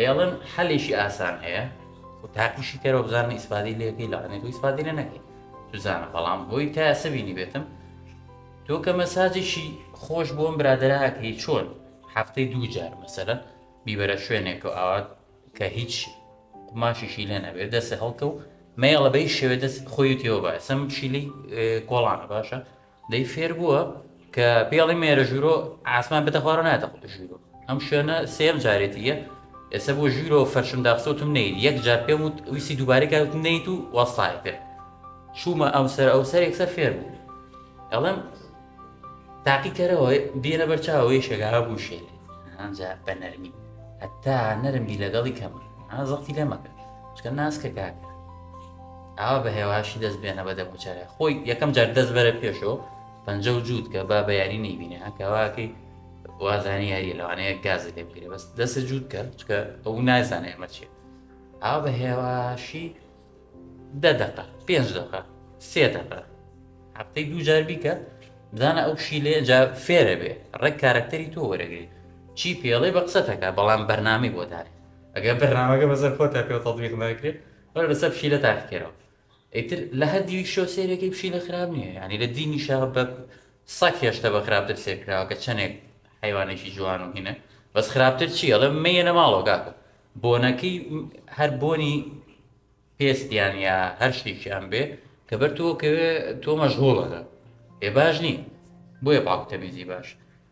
ئێڵن حەلێکی ئاسان هەیە و تاقیشی کەرەوە بزانە ئیسپادی لەکەی لەڵێنێت و ئیسپادی لە نەکەی سوزانە بەڵام بۆی تا ئێسە بینی بێتم تۆ کە مەساجێکی خۆش بۆم برادراکەی چۆن هەفتەی دوو جار مەسەرەن بیبەرە شوێنێک و ئاوات کە هیچ قماشیشی لێ نەبێت دەسە هەڵکە و مەیەڵە بەی شێوێ دەست خۆی تێوە باسم شیلی کۆڵانە باشە دەی فێر بووە کە پێڵی مێرە ژوورۆ ئاسمان بێتە خوارە ناتە ژوورۆ ئەم شوێنە سێم جارێتیە ئێستا بۆ ژوورۆ فەرشم داخسۆتم نیت یەک جار پێم وت ویسی دووبارەی کاوت نیت و وەستای پێ چوومە ئەو سەر ئەو سەر یەکسەر فێر بوو ئەڵم تاقی کەرەوە بێنە بەرچاوەوەی شێگا بوو شێ ئەجا بە نەرمی هەتا نەرمی لەگەڵی کەم زەڵتی لێ مەکە چکە ناسکە کاکە ئاوا بە هێواشی دەست بێنە بە دەموچاوێ خۆی یەکەم جار دەست بەرە پێشەوە پەنجە و جووت کە با بە یاری نەیبینێ کەواکەی وازانی یاری لەوانەیە گازی لێ بگرێ بەس دەستە جووت کە چکە ئەو نازانێ ئەمە چێت ئاوا بە هێواشی دە دەقە پێنج دەقە سێ دەقە هەفتەی دوو جار بیکە بزانە ئەو شیلێ جا فێرە بێ ڕێک کارەکتەری تۆ وەرەگری چی پێڵێ بە قسەتەکە بەڵام بەرنامی بۆ دارێ ئەگە بەرنامەکە بەسەر خۆ تا پێ تەڵویق ناکرێت بەرە لەسەر پشیلە تاقیکەرەوە ئیتر لە هەر دیوی شۆ سێرەکەی پشیلە خراپ نییە یعنی لە دینی شا بە سەک هێشتە بە خراپتر سێرکراوە کە چەندێک حیوانێکی جوان و هینە بەس خراپتر چی ئەڵێ مەیەنە ماڵەوە کاکە بۆنەکەی هەر بۆنی پێستیان یا هەر شتێکیان بێ کە بەر تۆکەوێ تۆ مەژغۆڵەکە ئێ باش نییە بۆیە پاکتەمیزی باش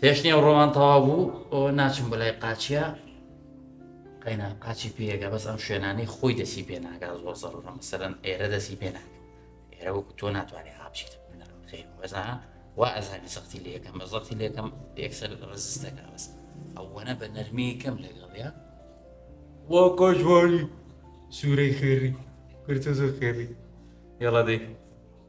پێشنی ئەو ڕۆمان تەوا بوو ئەو ناچم بە لای قاچە قەینا قاچی پێگە بەس ئەم شوێنانی خۆی دەسی پێ ناگا زۆر زەڕە مەسەرەن ئێرە دەسی پێ ناگە ئێرە وەکو تۆ ناتوانێت هاپچیت خیر وەزا وا ئەزانی سەختی لە یەکەم بە زەختی لە یەکەم یەکسەر ڕزستەکە بەس ئەوەنە بە نەرمی کەم لەگەڵە وا کۆژواری سوورەی خێری کورتە زۆر خێری یاڵادەی